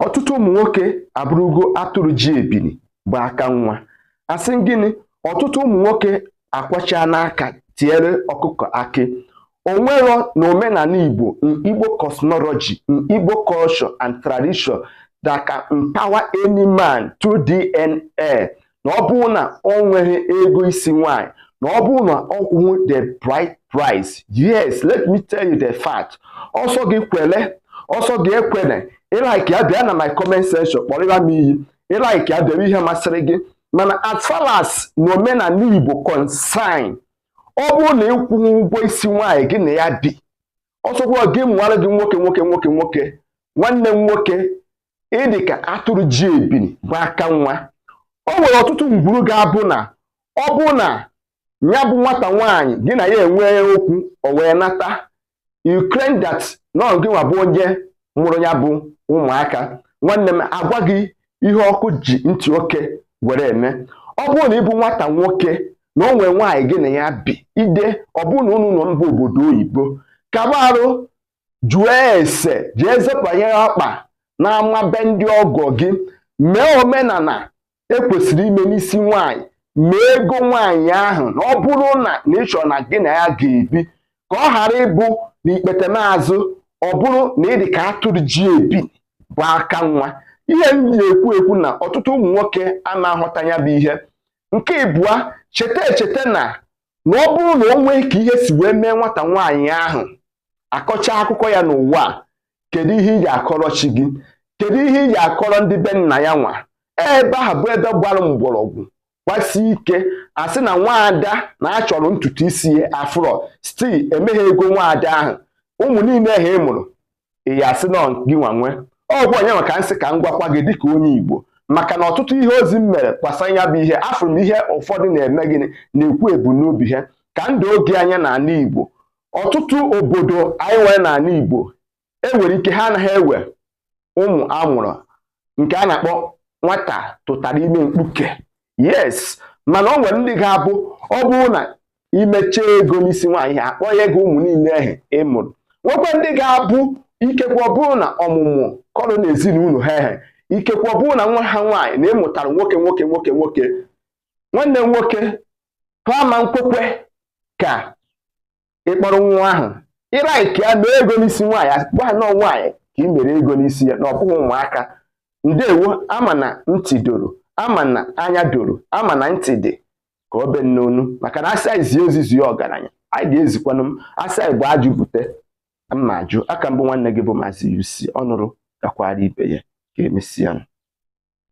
ọtụtụ ụmụ nwoke abụrụgo atụrụ ji ebili gba aka nwa asị gịnị ọtụtụ ụmụ nwoke akwọchaana aka tiere ọkụkọ akị o nwerọ na omenala igbo n'igbo cosmology n'igbo culture and tradition that can empower any man through dna na ọ bụrụ na o nweghị ego isi nwanyị na ọ bụrụ na ọ kwụghị the bride price yes let me tell you the fact ọ sọ gị kwele ọ sọ gị ekwene ị like ya bịa na my comment section kpọrịa m iyi ị like ya bịa dee ihe masịrị gị mana as far as na omenala Igbo concern ọ bụrụ na ị kwụghị ụgwọ isi nwaanyị gị na ya bi ọ sọkwa ya mụara gị nwoke nwoke nwoke nwoke nwanne nwoke ị dị ka atụrụ ji ebili gba aka nwa o nwere ọtụtụ ngwuru ga-abụ na ọ bụrụ na ya bụ nwata nwaanyị gị na ya enwee okwu o wee nata you claim that na ọ gị nwa bụ onye mụrụ ya bụ ụmụaka nwanne m agwa gị ihe ọkụ ji ntị oke were eme ọ bụrụ na ị bụ nwata nwoke na o nwee nwaanyị gị na ya bi either ọ bụrụ na unu nọ mba obodo oyibo kaba arụ jụọ ese jee zọpụnye ọkpa n'ama be ndị ọgọ gị mee omenala e kwesịrị ime n'isi nwaanyị mee ego nwaanyị ahụ na ọ bụrụ na na ị chọrọ na gị na ya ga-ebi ka ọ ghara ịbụ na ikpetemazụ ọ bụrụ na ị dị ka atụrụ ji ebili gba aka nwa ihe m na-ekwu ekwu na ọtụtụ ụmụ nwoke ana aghọta ya bụ ihe nke ịbụa cheta echeta na na ọ bụrụ na o nwee ka ihe si wee mee nwata nwaanyị ahụ akọchaa akụkọ ya n'ụwa a kedu ihe ị ga-akọrọ chi gị kedu ihe ị ga-akọrọ ndị be nna ya nwa ebe ahụ bụ ebe gbara mgbọrọgwụ gbasie ike a sị na nwaada na a chọrọ ntutu isi ya afụrọ site emeghị ego nwaada ahụ ụmụ niile ahụ ị mụrụ ị ya asị na ọ gị nwa nwe ọ bụ onye nwe ka m sị ka m gwakwa gị dịka onye Igbo maka na ọtụtụ ihe ozi m mere gbasara ya bụ ihe afụrụ m ihe ụfọdụ na-eme gịnị na-ekwu ebumnobi ha ka ndụ oge anya n'ala Igbo ọtụtụ obodo anyị nwere n'ala Igbo e nwere ike ha anaghị ewe ụmụ a mụrụ nke a na-akpọ nwata tụtara ime mkpuke yes mana o nwere ndị ga-abụ ọ bụrụ na i mechaa ego n'isi nwaanyị ha akpọnye gị ụmụ niile ahụ ị mụrụ nwekwa ndị ga-abụ ikekwe ọ bụrụ na ọmụmụ kọrọ n'ezinụlọ ha ehe ikekwe ọ bụrụ na nwa ha nwaanyị na ị mụtara nwoke nwoke nwoke nwoke nwanne nwoke ha ama ekwekwa ka ịkpọrọ nwa ahụ ị like ya mee ego n'isi nwaanyị a gwa nọọ nwaanyị ka ị mere ego n'isi ya na ọ bụghị ụmụaka ndewo ama na ntị doro ama na anya doro ama na ntị dị ka obe n'onu maka na asị anyị zie ozi zie ọgaranya anyị ga-ezikwanụ ma asị anyị bu ajụ bute mma ajụ aka m bụ nwanne gị bụ maazị UC ọnụrụ kakwaara ibe ya ka emesịa